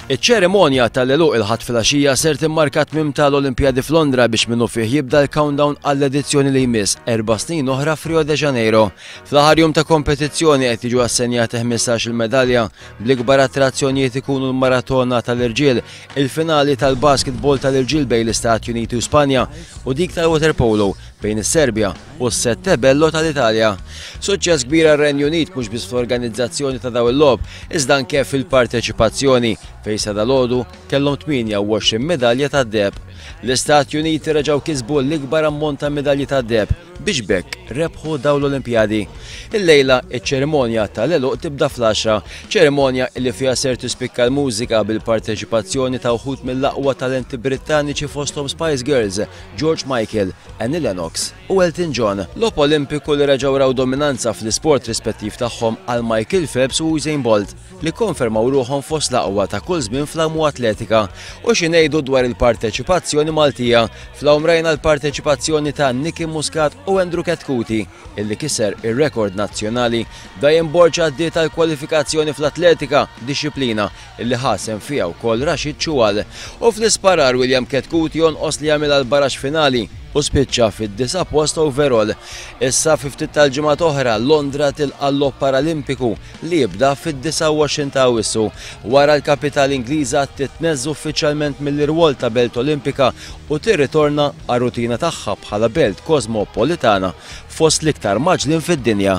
Iċ-ċerimonja tal-għeluq il-Ħadd filgħaxija ser timmarka tmiem tal-Olimpjadi f'Londra biex minnufih jibda l-countdown għall-edizzjoni li jmiss erba' snin oħra f'Rio de Janeiro. Fl-aħħar jum ta' kompetizzjoni qed jiġu assenjati 15-il medalja bl-ikbar attrazzjonijiet ikunu l-maratona tal-irġiel, il-finali tal-basketball tal-irġiel bejn l-Istati Uniti u Spanja u dik tal-waterpolo bejn is-Serbja u s-Sette Bello tal-Italja. Suċċess kbir għar-Renju Unit mhux biss fl-organizzazzjoni ta' dawn il-logħob, iżda anke fil-parteċipazzjoni, fejn sa dalgħodu kellhom 28 midalja tad-deheb. L-Istati Uniti reġgħu kisbu l-ikbar ammont ta' midalji tad-deheb biex b'hekk rebħu dawn l-Olimpjadi. Illejla iċ-ċerimonja tal-għeluq tibda fl-għaxra, ċerimonja li fiha ser tispikka l-mużika bil-parteċipazzjoni ta' wħud mill-aqwa talenti Brittaniċi fosthom Spice Girls, George Michael, Annie Lennox u Elton John. Logħob Olimpiku li reġgħu raw dominanza fl-isport rispettiv tagħhom għal Michael Phelps u Usain Bolt li kkonfermaw ruħhom fost l-aqwa ta' kull żmien fl-Amu Atletika. U xi ngħidu dwar il-parteċipazzjoni Maltija? Fl-Awm rajna l-parteċipazzjoni ta' Nicky Muscat u Andrew Ketkuti illi kiser ir-rekord nazzjonali. Diane Borg għaddiet għall-kwalifikazzjoni fl-Atletika, dixxiplina li ħa sehem fiha wkoll Rashid Choual, u fl-isparar William Ketkout jonqos li jagħmilha l-baraxx finali u spiċċa fid-disa' post overall. Issa fi ftit tal-ġimgħat oħra Londra tilqa' l-Logħob Paralimpiku li jibda fid-29 ta' Awwissu. Wara l-kapitali Ingliża titneżża uffiċjalment mill-irwol ta' belt Olimpika u tirritorna għar-rutina tagħha bħala belt kosmopolitana fost l-iktar mgħaġġlin fid-dinja.